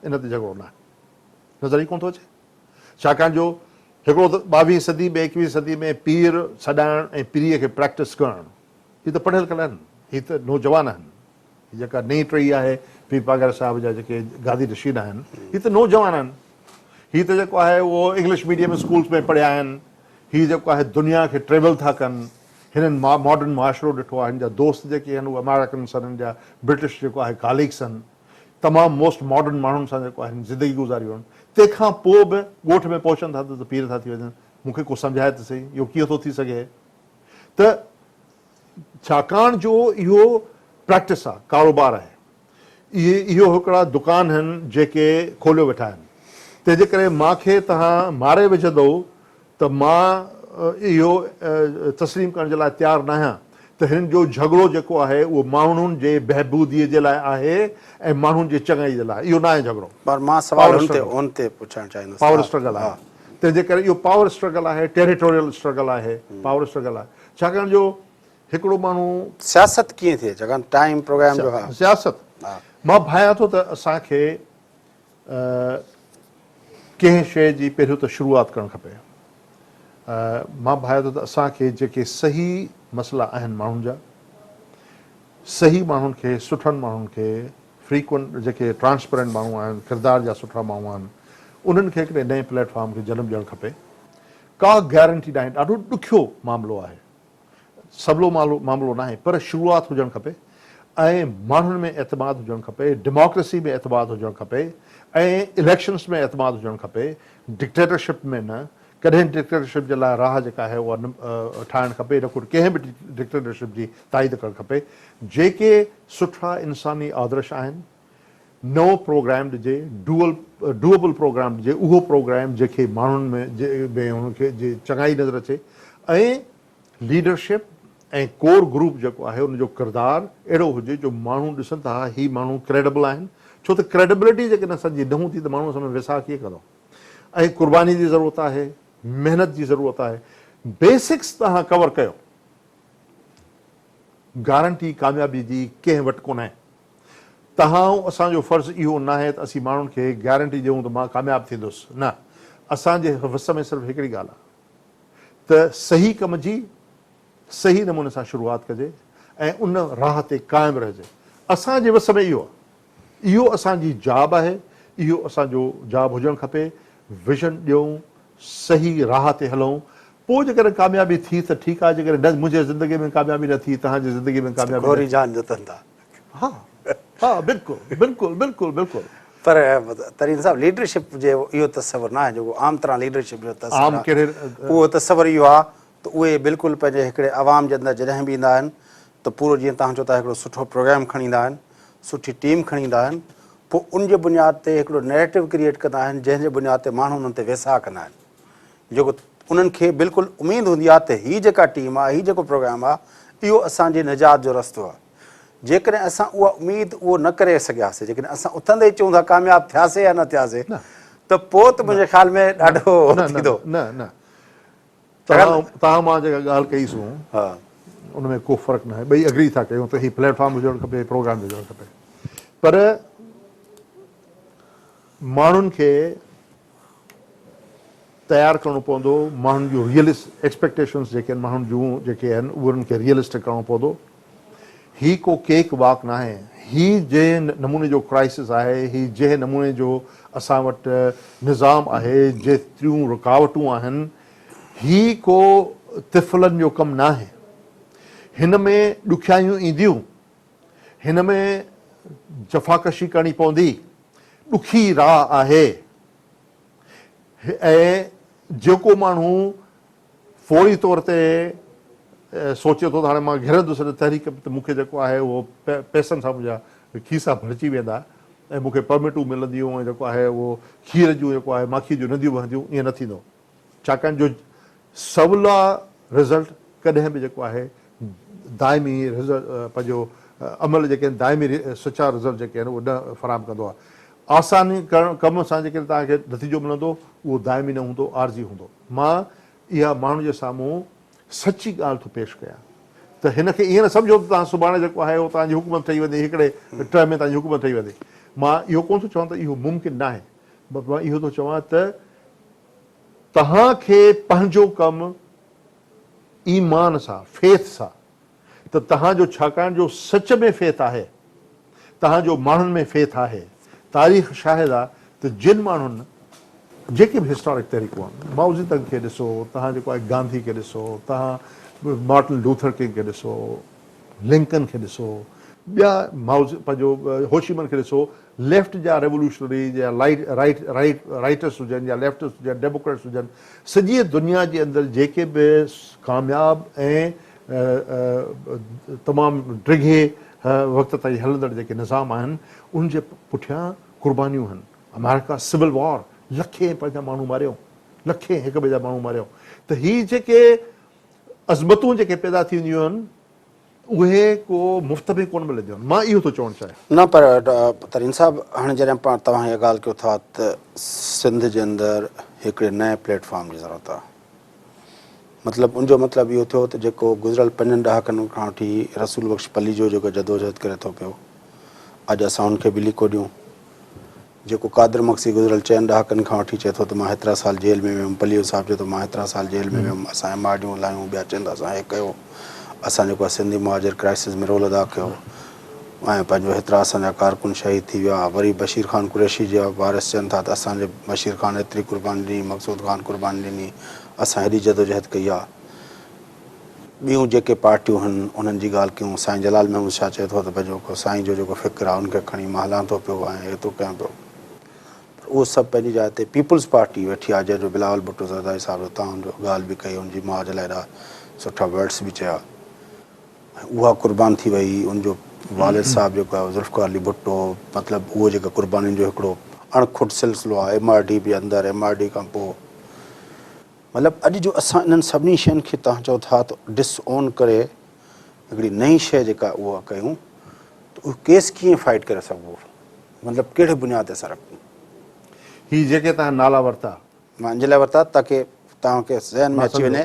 ان تي جهڳڙو ناهي نظر ئي ڪونه ٿو اچي ڇاڪاڻ جو هڪڙو ته ٻاويهين صدي ۾ ايڪويهين صدي ۾ پير سڏائڻ ۽ پريء کي پريڪٽس ڪرڻ هي ته پڙهيل ڪل آهن هي ته نوجوان آهن هي جيڪا نئين ٽهي آهي پير پاڳاري صاحب جا جيڪي گادي نشين آهن هي ته نوجوان آهن هي ته جيڪو آهي اهو انگلش ميڊيم اسڪولس ۾ پڙهيا آهن هي جيڪو آهي دنيا کي ٽريول ٿا ڪن هنن ماڊرن معاشرو ڏٺو آهي هن جا دوست جيڪي آهن اهي امارڪنس آهن هن جا برٽش جيڪو آهي ڪاليگس آهن تمام موسٽ ماڊرن ماڻهن سان جيڪو آهن زندگي گذاري ويم تنهن کان پوء به ڳوٺ ۾ پهچن ٿا ته ته پير ٿا ٿي وڃن مون کي ڪو سمجهائي ته سهي اهو ڪيئن ٿو ٿي سگهي ته ڇاڪاڻ جو اهو پريڪٽس آهي ڪاروبار آهي اهي اهو هڪڙا دڪان هن جيڪي کوليو ويٺا آهن تنهن جي ڪري مان کي توهان ماري وجهندؤ ته مان اهو تسليم ڪرڻ جي لاء تيار ناهيان ته هن جو جهڳڙو جيڪو آهي اهو ماڻهن جي بهبوديء جي لاء آهي ۽ ماڻهن جي چڱائيء جي لاء اهو ناهي جهڳڙو پر مان سوال هن تي هن تي پڇڻ چاهيندس پاور اسٽرگل آهي تنهن جي ڪري اهو پاور اسٽرگل آهي ٽيريٽوريل اسٽرگل آهي پاور اسٽرگل آهي ڇاڪاڻ جو هڪڙو ماڻهو. سياست ڪيئن ٿئي ڇاڪاڻ ٽائيم پروگرام جو ها سياست مان ڀانيان ٿو ته اسان کي ڪنهن شيء جي پهريون ته شروعات ڪرڻ کپي. مان ڀانئيان ٿو ته اسان کي جيڪي صحيح مسئلا آهن ماڻهن جا، صحيح ماڻهن کي، سٺن ماڻهن کي، فريڪوئنٽ جيڪي ٽرانسپيرنٽ ماڻهو آهن، ڪردار جا سٺا ماڻهو آهن، انهن کي هڪڙي نئين پليٽ فارم کي جنم ڏيڻ کپي. ڪا گيرنٽي ناهي، ڏاڍو ڏکيو معاملو آهي. سولو معاملو ناهي پر شروعات هجڻ کپي ۽ ماڻهن ۾ اعتماد هجڻ کپي، ڊيموڪريسي ۾ اعتماد هجڻ کپي ۽ اليڪشنز ۾ اعتماد هجڻ کپي، ڊڪٽيٽرشپ ۾ نه، ڪڏهن ڊڪٽيٽرشپ جي لاء راهه جيڪا آهي اها نه ٺاهڻ کپي نه ڪو ڪنهن به ڊڪٽيٽرشپ جي تائيد ڪرڻ کپي، جيڪي سٺا انساني آدرش آهن، نئون پروگرام ڏجي، ڊوئل Duable، پروگرام ڏجي، اهو پروگرام جنهن کي ماڻهن ۾ ۾ هن کي جي چڱائي نظر اچي ۽ ليڊرشپ ۽ ڪور گروپ جيڪو آهي ان جو ڪردار اهڙو هجي جو ماڻهو ڏسن ته ها هي ماڻهو ڪريڊبل آهن ڇو ته ڪريڊبلٽي جيڪڏهن اسان جي نه هوندي ته ماڻهو اسان ۾ ويساهه ڪيئن ڪندو ۽ قرباني جي ضرورت آهي محنت جي ضرورت آهي بيسڪس توهان ڪور ڪيو گارنٽي ڪاميابي جي ڪنهن وٽ ڪونهي. تهائون اسان جو فرض اهو ناهي ته اسين ماڻهن کي هڪ گيارنٽي ڏيون ته مان ڪامياب ٿيندس نه اسان جي وس ۾ صرف هڪڙي ڳالهه آهي ته صحيح ڪم جي صحيح نموني سان شروعات ڪجي ۽ ان راهه تي قائم رهجي اسان جي وس ۾ اهو آهي اهو اسان جي جاب آهي اهو اسان جو جاب هجڻ کپي ويزن ڏيون صحيح راهه تي هلون پوء جيڪڏهن ڪاميابي ٿي ته ٺيڪ آهي جيڪڏهن نه منهنجي زندگي ۾ ڪاميابي نه ٿي تهان جي زندگي ۾ ڪاميابي نه ٿي. ها ها بلڪل بلڪل بلڪل بلڪل. پر ترين صاحب ليڊرشپ جي اهو تصور نه آهي جيڪو عام طرح ليڊرشپ جو تصور عام آهي ڪهڙي اهو تصور اهو آهي ته اهي بلڪل پنهنجي هڪڙي عوام جي اندر جڏهن به ايندا آهن ته پورو جيئن توهان چئو ٿا هڪڙو سٺو پروگرام کڻي ايندا آهن سٺي ٽيم کڻي ايندا آهن پوء ان جي بنياد تي هڪڙو نيريٽو ڪريئيٽ ڪندا آهن جنهن جي بنياد تي ماڻهو انهن تي ويساهه ڪندا آهن جيڪو انهن کي بلڪل اميد هوندي آ ته هي جيڪا ٽيم آ، هي جيڪو پروگرام آ، اهو اسان جي نجات جو رستو آ. جيڪڏهن اسان اها اميد اهو نه ڪري سگهياسي، جيڪڏهن اسان اٿندي ئي چئون ٿا ڪامياب ٿياسي يا نه ٿياسي ته پوء ته منهنجي خيال ۾ ڏاڍو ٿيندو. نه نه توهان مان جيڪا ڳالهه ڪئي سون ان ۾ ڪو فرق ناهي، ٻئي اگري ٿا ڪيون ته هي پليٽ فارم به هجڻ کپي، پروگرام به هجڻ کپي پر ماڻهن کي تيار ڪرڻو پوندو ماڻهن جون ريئلس ايڪسپيڪٽيشنس جيڪي آهن ماڻهن جون جيڪي آهن انهن کي ريئلسٽڪ ڪرڻو پوندو هي ڪو ڪيڪ واڪ ناهي هي جنهن نموني جو ڪرائسس آهي هي جنهن نموني جو اسان وٽ نظام آهي جيتريون رڪاوٽون آهن هي ڪو طفلن جو ڪم ناهي هن ۾ ڏکيائيون اينديون هن ۾ جفاڪشي ڪرڻي پوندي، ڏکي راهه آهي ۽ جيڪو ماڻهو فوري طور تي سوچي ٿو ته هاڻي مان گهرندس ان تحريڪ ۾ ته مون کي جيڪو آهي اهو پئسن سان منهنجا کيسا ڀرجي ويندا ۽ مون کي پرمٽون ملنديون ۽ جيڪو آهي اهو کير جون جيڪو آهي ماکي جون ننديون وهنديون، ائين نه ٿيندو. ڇاڪاڻ جو سولا رزلٽ ڪڏهن به جيڪو آهي دائمي پنهنجو عمل جيڪي آهن دائمي سچا رزلٽ جيڪي آهن اهي نه فراهم ڪندو آهي. آساني ڪرڻ ڪم سان جيڪڏهن توهان کي نتيجو ملندو اهو دائمي نه هوندو عارضي هوندو. مان اها ماڻهن جي سامهون سچي ڳالهه ٿو پيش ڪيان ته هن کي ائين نه سمجهو ته توهان سڀاڻي جيڪو آهي اهو توهان جي حڪومت ٺهي ويندي هڪڙي ٽه ۾ توهان جي حڪومت ٺهي ويندي. مان اهو ڪونه ٿو چوان ته اهو ممڪن ناهي. بس مان اهو ٿو چوان ته توهان کي پنهنجو ڪم ايمان سان، Faith، سان ته توهان جو ڇاڪاڻ جو سچ ۾ Faith آهي، توهان جو ماڻهن ۾ Faith آهي، تاريخ شاهد آ ته جن ماڻهن جيڪي به هسٽارڪ تحريڪون آهن، مائو زي تنگ کي ڏسو، توهان جيڪو آهي گانڌي کي ڏسو، توهان مارٽن لوٿر ڪنگ کي ڏسو، لنڪن کي ڏسو، ٻيا مائو پنهنجو هوشيمن کي ڏسو، ليفٽ جا ريولوشنري هجن يا رائيٽ رائيٽ رائيٽس هجن يا ليفٽس هجن ڊيموڪريٽس هجن سڄيء دنيا جي اندر جيڪي به ڪامياب ۽ تمام ڊگهي وقت تائين هلندڙ جيڪي نظام آهن ان جي پٺيان قربانيون آهن امريڪا سول وار لکين پنهنجا ماڻهو ماريو لکين هڪ ٻئي جا ماڻهو ماريو ته هي جيڪي عظمتون جيڪي پيدا ٿينديون آهن اهي ڪو مفت ۾ ڪونه ملنديون آهن مان اهو ٿو چوڻ چاهيان. نه پر ترين صاحب هاڻي جڏهن پاڻ توهان اها ڳالهه ڪيو ٿا ته سنڌ جي اندر هڪڙي نئين پليٽ فارم جي ضرورت آهي مطلب ان جو مطلب اهو ٿيو ته جيڪو گذريل پنجن ڏهاڪن کان وٺي رسول بخش پليجو جيڪو جدوجهد ڪري ٿو پيو اڄ اسان ان کي به ليڪو ڏيون جيڪو قادر مگسي گذريل چئن ڏهاڪن کان وٺي چئي ٿو ته مان هيترا سال جيل ۾ ويم، پليو صاحب چئي ٿو مان هيترا سال جيل ۾ ويم، اسان ايم آر ڊيون هلايون، ٻيا چئن ٿا اسان هي ڪيو، اسان جيڪو آهي سنڌي مهاجر ڪرائسز ۾ رول ادا ڪيو ۽ پنهنجو هيترا اسان جا ڪارڪن شهيد ٿي ويا، وري بشير خان قريشي جا وارث چئن ٿا ته اسان جي بشير خان هيتري قرباني ڏني، مقصود خان قرباني ڏني، اسان هيڏي جدوجهد ڪئي آ. ٻيون جيڪي پارٽيون آهن انهن جي ڳالهه ڪيون سائين جلال محمد شاهه چئي ٿو ته پنهنجو ڪو سائين جو جيڪو فڪر آهي ان کي کڻي مان هلان ٿو پيو ۽ ايتو ڪيان پيو پر اهو سڀ پنهنجي جاء تي پيپلز پارٽي ويٺي آهي جنهن جو بلاول ڀٽو زرداري صاحب جو تان جو ڳالهه به ڪئي ان جي ماء جي لاء ايڏا سٺا ورڊس به چيا ۽ اها قربان ٿي وئي ان جو والد صاحب جيڪو آهي ذوالفقار علي ڀٽو مطلب اهو جيڪا قربانين جو هڪڙو اڻ کٽ سلسلو آهي ايم آر ڊي به اندر ايم آر ڊي کان پوء مطلب اڄ جو اسان انهن سڀني شين کي توهان چئو ٿا ته ڊس اون ڪري هڪڙي نئين شيء جيڪا اها ڪيون ته اهو ڪيس ڪيئن فائيٽ ڪري سگهبو مطلب ڪهڙي بنياد تي اسان رکون. هي جيڪي توهان نالا ورتا. مان ان جي لاء ورتا تاڪه توهان کي ذهن ۾ اچي وڃي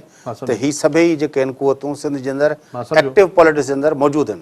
ته هي سڀيئي جيڪي هن قوتون سنڌ جي اندر ايڪٽو پاليٽڪس جي اندر موجود هن.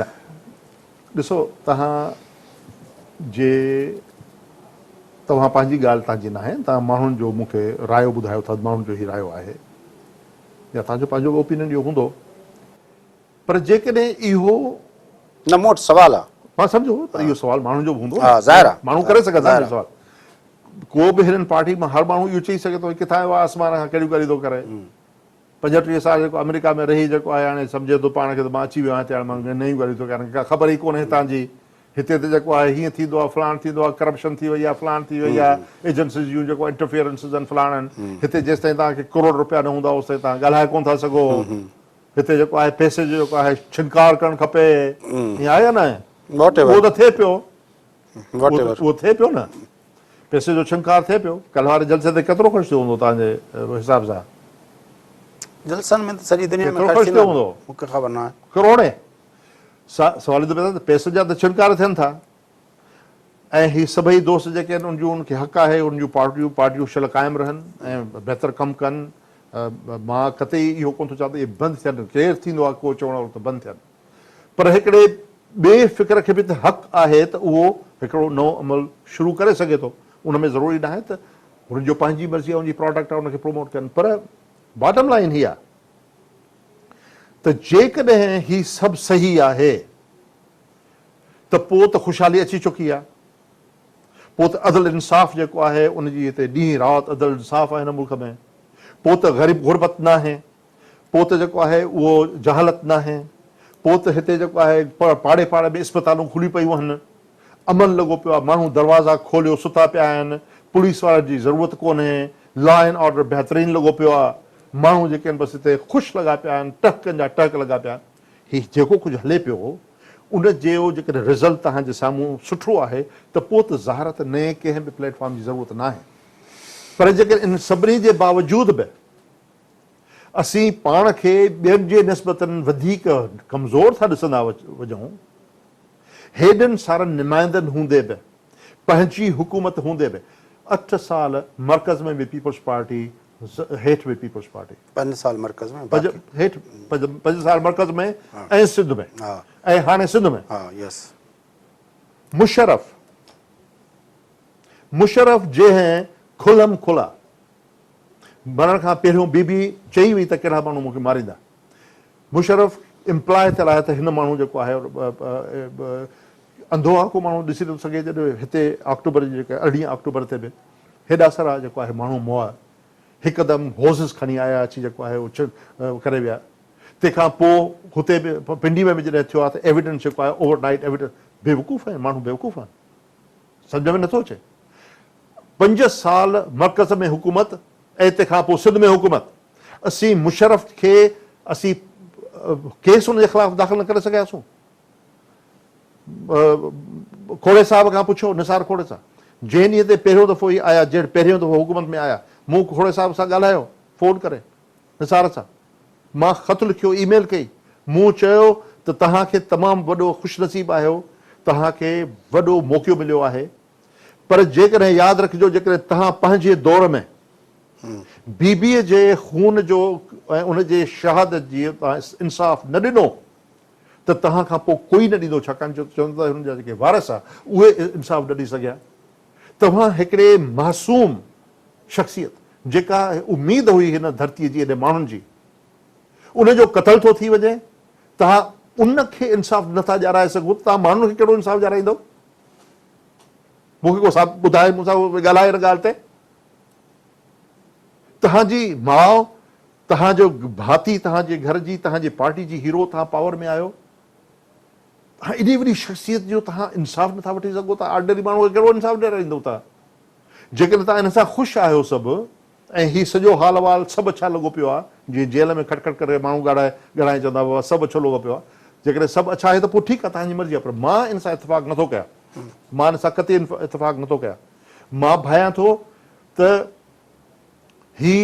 نه ڏسو توهان جي توهان پنهنجي ڳالهه تان جي ناهي توهان ماڻهن جو مون کي رايو ٻڌايو ٿا ماڻهن جو هي رايو آهي يا توهان جو پنهنجو به اوپينين اهو هوندو پر جيڪڏهن اهو نه مون وٽ سوال آ. مان سمجهو پر اهو سوال ماڻهن جو به هوندو ها ظاهر آ ماڻهو ڪري سگهن ٿا اهو سوال ڪو به هلن پارٽي مان هر ماڻهو اهو چئي سگهي ٿو هي ڪٿان آيو آ آسمان کان ڪهڙيون ڳالهيون ٿو ڪري. پنجٽيهه سال جيڪو آمريڪا ۾ رهي جيڪو آهي هاڻي سمجهي ٿو پاڻ کي ته مان اچي ويو آهيان هتي هاڻي مان نيون ڳالهيون ٿو ڪريان ڪا خبر ئي ڪونهي هتان جي هتي ته جيڪو آهي هيئن ٿيندو آهي فلاڻ ٿيندو آهي ڪرپشن ٿي وئي آهي فلاڻ ٿي وئي آهي ايجنسيز جون جيڪو انٽرفيئرنسز آهن فلاڻ آهن هتي جيستائين توهان کي ڪروڙ روپيا نه هوندا اوستائين توهان ڳالهائي ڪونه ٿا سگهو هتي جيڪو آهي پئسي جو جيڪو آهي ڇنڪار ڪرڻ کپي ائين آهي يا نه اهو ته ٿئي پيو اهو ٿئي پيو نه پئسي جو ڇنڪار ٿئي پيو. ڪلهه واري جلسي تي ڪيترو خرچ ٿيو هوندو تنهنجي حساب سان؟ جلسن ۾ ته سڄي دنيا ۾ خرچ ٿيندو هوندو. مون کي خبر ناهي. ڪروڙين. سوال ايندو پيدا ته پئسن جا ته ڇنڪار ٿين ٿا ۽ هي سڀئي دوست جيڪي آهن ان جون ان کي حق آهي ان جون پارٽيون پارٽيون شل قائم رهن ۽ بهتر ڪم ڪن مان قطعي اهو ڪونه ٿو چوان ته اهي بند ٿين ڪير ٿيندو آهي ڪو چوڻ وارو ته بند ٿين. پر هڪڙي ٻئي فڪر کي به ته حق آهي ته اهو هڪڙو نئون عمل شروع ڪري سگهي ٿو، ان ۾ ضروري ناهي ته هن جو پنهنجي مرضي يا ان جي پراڊڪٽ آهي ان کي پروموٽ ڪن پر باٽم لائين هي آهي ته جيڪڏهن هي سڀ صحيح آهي ته پوء ته خوشحالي اچي چڪي آهي، پوء ته عدل انصاف جيڪو آهي ان جي هتي ڏينهن رات عدل انصاف آهي هن ملڪ ۾، پوء ته غريب غربت ناهي، پوء ته جيڪو آهي اهو جهالت ناهي، پوء ته هتي جيڪو آهي پاڙي پاڙي ۾ اسپتالون کلي پيون آهن، امن لڳو پيو آهي، ماڻهو دروازا کوليو ستا پيا آهن، پوليس وارن جي ضرورت ڪونهي، لا اينڊ آرڊر بهترين لڳو پيو آهي، ماڻهو جيڪي آهن بس هتي خوش لڳا پيا آهن، ٽهڪن جا ٽهڪ لڳا پيا آهن. هي جيڪو ڪجهه هلي پيو ان جو جيڪڏهن رزلٽ توهان جي سامهون سٺو آهي ته پوء ته ظاهر ته نئين ڪنهن به پليٽ فارم جي ضرورت ناهي پر جيڪڏهن ان سڀني جي باوجود به اسين پاڻ کي ٻين جي نسبت وڌيڪ ڪمزور ٿا ڏسندا وڃون، هيڏن سارن نمائندن هوندي به، پنهنجي حڪومت هوندي به، اٺ سال مرڪز ۾ به پيپلز پارٽي، هيٺ به پيپلز پارٽي. پنج سال مرڪز ۾ باقي. هيٺ پنج سال مرڪز ۾ ۽ سنڌ ۾ ۽ هاڻي سنڌ ۾. مشرف، مشرف جنهن کلم کلا. مرڻ کان پهريون بي بي چئي وئي ته ڪهڙا ماڻهو مون کي ماريندا. مشرف امپلاء ٿيل آهي ته هن ماڻهو جيڪو آهي انڌو آ ڪو ماڻهو ڏسي نٿو سگهي جڏهن هتي آڪٽوبر جي جيڪا ارڙهين آڪٽوبر تي به هيڏا سارا جيڪو آهي ماڻهو مئا هڪدم هوزز کڻي آيا اچي جيڪو آهي اڇ ڪري ويا تنهن کان پوء هتي به پنڊي ۾ به جڏهن ٿيو آ ته ايويڊنس جيڪو آهي اوور نائيٽ ايويڊنس بيوقوف آهن ماڻهو بيوقوف آهن. سمجهه ۾ نٿو اچي. پنج سال مرڪز ۾ حڪومت ۽ تنهن کان پوء سنڌ ۾ حڪومت اسين مشرف کي اسين ڪيس ان جي خلاف داخل نه ڪري سگهياسون. کوڙي صاحب کان پڇو نثار کوڙي سان جنهن ڏينهن تي پهريون دفعو هي آيا جنهن پهريون دفعو حڪومت ۾ آيا مون کوڙي صاحب سان ڳالهايو فون ڪري. نثار سان مان خط لکيو، اي ميل ڪئي، مون چيو ته توهان کي تمام وڏو خوش نصيب آهيو، توهان کي وڏو موقعو مليو آهي، پر جيڪڏهن ياد رکجو جيڪڏهن توهان پنهنجي دور ۾ بي بي جي خون جو ۽ ان جي شهادت جي انصاف نه ڏنو ته توهان کان پوء ڪوئي نه ڏيندو، ڇاڪاڻ جو چون ٿا ته هن جا جيڪي وارث آهي اهي انصاف نه ڏئي سگهيا. توهان هڪڙي معصوم شخصيت جيڪا اميد هئي هن ڌرتي جي ايڏي ماڻهن جي ان جو قتل ٿو ٿي وڃي توهان ان کي انصاف نه ٿا ڏيارائي سگهو ته توهان ماڻهن کي ڪهڙو انصاف ڏيارائيندؤ مون کي ڪو صاحب ٻڌائي مون سان ڳالهائي ان ڳالهه تي توهان جي ماء توهان جو ڀاتي توهان جي گهر جي توهان جي پارٽي جي هيرو توهان پاور ۾ آهيو هاڻ ايڏي وڏي شخصيت جو توهان انصاف نٿا وٺي سگهو ته آرڊنري ماڻهو کي ڪهڙو انصاف ڏيارائيندو توهان؟ جيڪڏهن توهان هن سان خوش آهيو سڀ ۽ هي سڄو حال احوال سڀ اڇا لڳو پيو آهي جيئن جيل ۾ کٽ کٽ ڪري ماڻهو ڳاڙهائي ڳڙهائي چوندا بابا سڀ اڇو لڳو پيو آهي جيڪڏهن سڀ اڇا آهي ته پوء ٺيڪ آهي توهان جي مرضي آهي پر مان ان سان اتفاق نٿو ڪيان مان ان سان قطعي اتفاق نٿو ڪيان مان ڀانئيان ٿو ته هي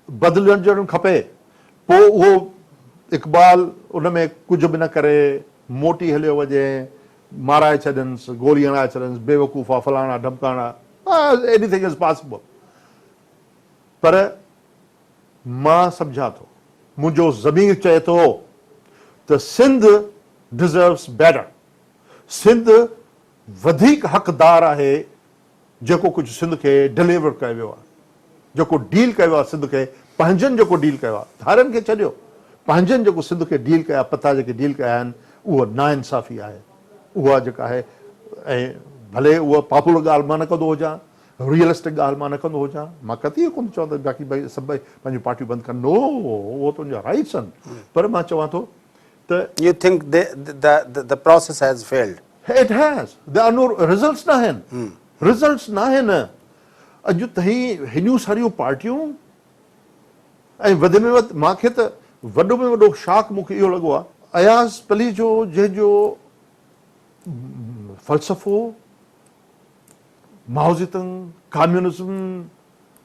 بدلجڻ کپي، پوء اهو اقبال ان ۾ ڪجهه به نه ڪري، موٽي هليو وڃي، مارائي ڇڏينس، گولي هڻائي ڇڏينس، بيوقوفا، فلاڻا ڍمڪاڻا، ايني ٿنگ از پاسبل. پر مان سمجهان ٿو، منهنجو ضمير چئي ٿو ته سنڌ ڊزروس بيٽر، سنڌ وڌيڪ حقدار آهي جيڪو ڪجهه سنڌ کي ڊليور ڪيو ويو آهي جيڪو ڊيل ڪيو آهي سنڌ کي پنهنجن جيڪو ڊيل ڪيو آهي ڌارين کي ڇڏيو پنهنجن جيڪو سنڌ کي ڊيل ڪيا پتا جيڪي ڊيل ڪيا آهن اهو ناانصافي آهي اها جيڪا آهي ۽ ڀلي اها پاپولر ڳالهه مان نه ڪندو هجان ريئلسٽڪ ڳالهه مان نه ڪندو هجان مان قطعي ڪونه چوان ته باقي سڀ پنهنجون پارٽيون بند ڪن نو اهو تنهنجا رائيٽس آهن پر مان چوان ٿو ته. You think the the process has failed. It has there are no results ناهن رزلٽس ناهن اڄ تائين هيڏيون ساريون پارٽيون ۽ وڌ ۾ وڌ مان کي ته وڏو ۾ وڏو شاڪ مون کي اهو لڳو آهي. اياز پليجو جنهن جو فلسفو مائوزي تنگ ڪاميونزم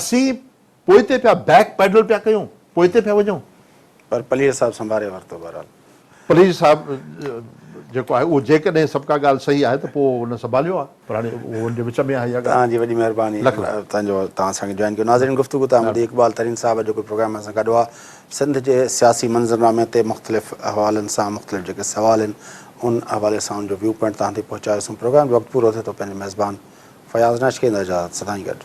اسين پوئتي پيا بيڪ پيڊل پيا ڪيون پوئتي پيا وڃون. پر پليجي صاحب سنڀاري ورتو بهرحال. پليجي صاحب جيڪو آهي اهو جيڪڏهن سڀ ڪا ڳالهه صحيح آهي ته پوء هن سنڀاليو آهي پر هاڻي اهو ان جي وچ ۾ آهي اها ڳالهه. توهان جي وڏي مهرباني لک لک. توهان جو توهان اسان کي جوائن ڪيو ناظرين گفتگو توهان ٻڌي اقبال ترين صاحب جيڪو پروگرام سان گڏ هئا سنڌ جي سياسي منظرنامي تي مختلف حوالن سان مختلف جيڪي سوال آهن ان حوالي سان ان جو ويو پوائنٽ توهان تائين پهچايو سون پروگرام جو وقت پورو ٿئي ٿو پنهنجي ميزبان فياض ناشڪي نظر جا سدائين گڏ.